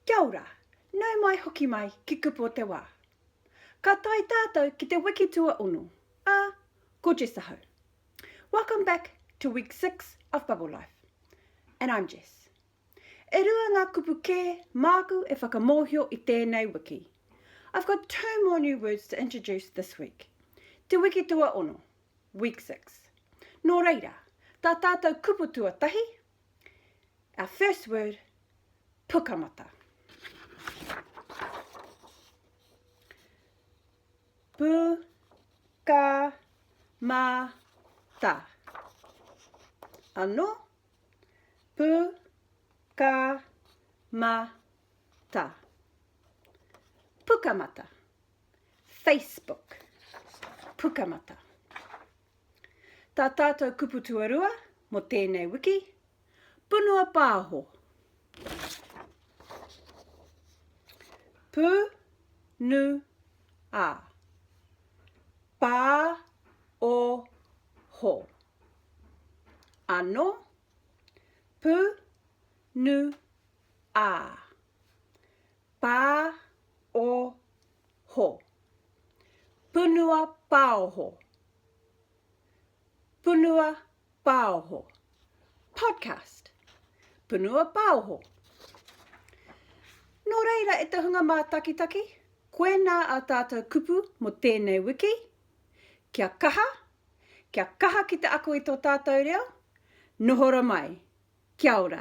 Kia ora, nau mai hoki mai ki Kupu o te Wā. Ka tae tātou ki te wiki tuaono, ā, ko Jess ahau. Welcome back to week six of Bubble Life. And I'm Jess. E rua ngā kupu kē māku e whakamōhio i tēnei wiki. I've got two more new words to introduce this week. Te wiki tuaono, week six. Nō reira, tā tātou kupu tuatahi, Our first word, pukamata. Pukamata. Ano, pukamata. Pukamata. Facebook. Pukamata. Tā tātou kupu tuarua mō tēnei wiki, Punua Pāho. Pu, nu, a. Pā, o, ho. Ano, pu, nu, a. Pā o ho. Punua Pāoho Punua Pāoho Podcast Punua Pāoho Nō reira e te hunga mātakitaki, koinā ā tātou kupu mō tēnei wiki, Kia kaha, kia kaha ki te ako i tō tātou reo, nohora mai. Kia ora.